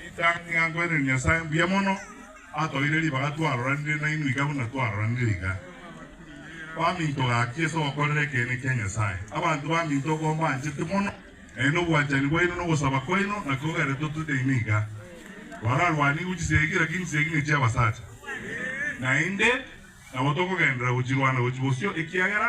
Rita nigo nkwenerete Nyasae mbuya mono atoeire ribaga twaroranire nainwe iga buna twaroranire iga. Baminto gaki ase ogokorera ekeene kia Nyasae. Abanto baminto igo mbanchete mono, naende obwanchani bwaino na ogosaba kwaino nakio geretotwe nainwe iga. Twararwani igwe chisegi, lakini chisegi ne chi'abasacha. Naende nabo tokogenderera gochirwana gochia bosio ekiagera.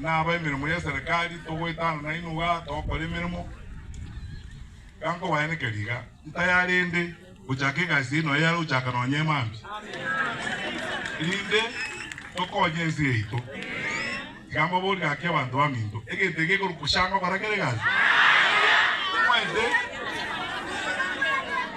na aba emeremo y'eserekari togoetana nainwe iga togokora emeremo. Iga nkobaenekeria iga, ntaya rende gochaka egasi eye noyo yare gochaka nonya emambia, erinde tokonye ense yaito. Iga mbaborire gaki abanto baminto, egento eke gekorwa koshanga barakera egasi, tomoete.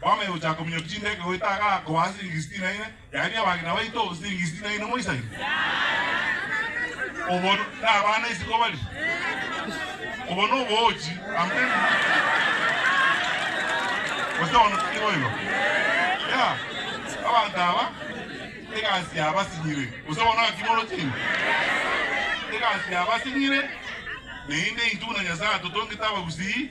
Kwamanya gochaka kominyoka chindege goeta aka akobaha siringi sitini na ine, yaani abagina baito siringi sitini na ine moisani? Obo nabana isiko bari? Obo noboochi? Amen. Gose bono tari boigo? Yeah. Abanto aba egasi yabasinyire. Gose bono ng'aki morochire? Egasi yabasinyire, naende intwe buna Nyasae atotongete abagusii,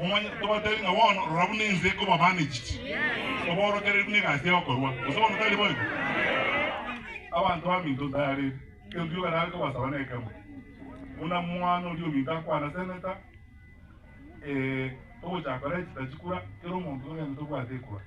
Omonyene tobatebi ng'a bono rora buna ense ekoba managed, oborokererie buna egasi ya okorua, gose bono tari boigo? Abanto baminto ntareri, egento gioka nare kobasaba nekemo, buna mwana oria ominto akwana senator, eh, togochakora echita chikura, kera omonto togende tobwate ekura.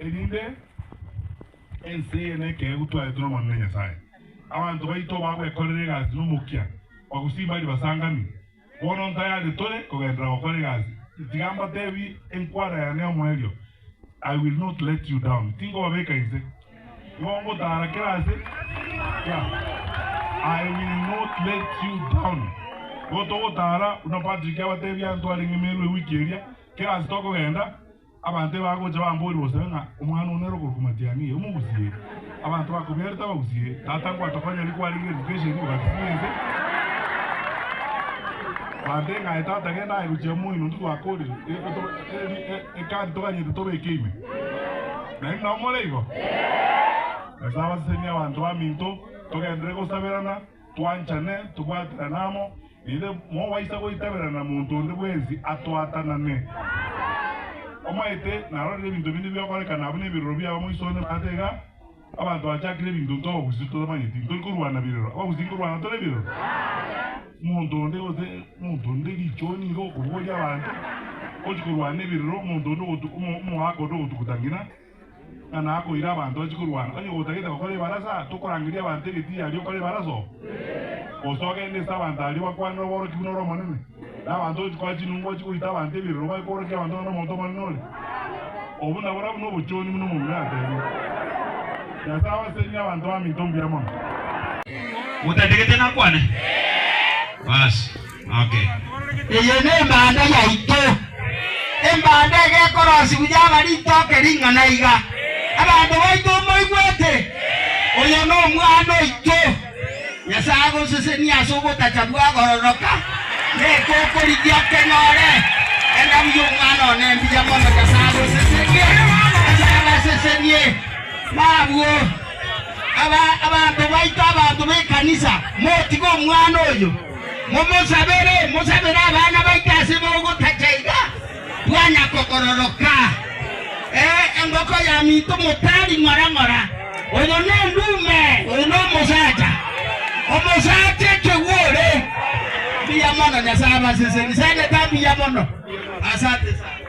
erinde ense eye nekeegu twaete nomobio bwa Nyasae. Abanto baito bagwekorera egasi nomokia, bagosii mbari basangami. Bono ntayare tore kogenderera gokora egasi. Tiga mbatebi enkwara yane y'omoerio, I will not let you down. Tinkobabeka inse. Nigo ngotaara kera ase yeah. I will not let you down. Nigo togotaara buna Patrick abatebia ntwarenge meru ewiki eria kera ase tokogenda Abanto ebagocha bamboria gose ng'a omwana o nere okorokwa Matiang'i, omogusie? Abanto bakobiarete abagusie, Tata ngwatokonya riku arenge education ime batisi y'ense. Bande ng'a aye tata genda aye gochia moino onde twakorire e, to, e, e, card toganyete tobeke ime. Naende nao more igo? Nyasae abasesenie abanto baminto, togenderere gosaberana. Twanchane, tobwaterane amo, erinde mobaisa goitabera na monto onde bwensi atwatanane. Omaete narorire ebinto binde biokorekana abwo nebiroro biabo moiso onde maate iga, abanto bachakire ebinto nto obogusi totamanyeti, ntori korwana birero, abagusi nkorwana tore birero? Monto onde gose monto onde richoni nigo okoboria abanto, gochi korwana ebirero, monto onde ogotu omo omogaaka onde ogotuguta ng'ina, Ng'a nakoire abanto anche korwana, onye gotagete gokora ebarasa, tokorangeria abanto egetiiri aria okore ebarasa oo? Gose ogende ase abanto aria obakwane oborokigwe nore omonene, na abanto onche koa chinungu anche goita abanto ebirero baye kworokia abanto ng'a nomonto omonene ore? Obwo naboria buna obochoni buna omomura yatebire. Nyasae abasesenire abanto baminto mbuya mono. Motagete nakwane? Baasi. Okay. Eye nembanda yaito, embanda egekorosigwa yaba ritoke ring'ana iga. Abanto baito moigwete? Oyo nomwana oito. Nyasaye agosesenie ase ogotacha bwakororoka, neke okorigia okenyore. Enda buya omwana one mbuya mono, Nyasaye agosesenie, Nyasaye abasesenie. Nabwo aba abanto baito, abanto b'ekanisa, motige omwana oyo. Momosabere, mosabere abana baito ase bogotacha iga bwana kogororoka. Ee, engoko ya minto motari ng'ora ng'ora. Oyo nendume, oyo nomosacha, omosacha ekegwore. Mbuya mono Nyasae abaseseni, sana etaa mbuya mono. Asante sana.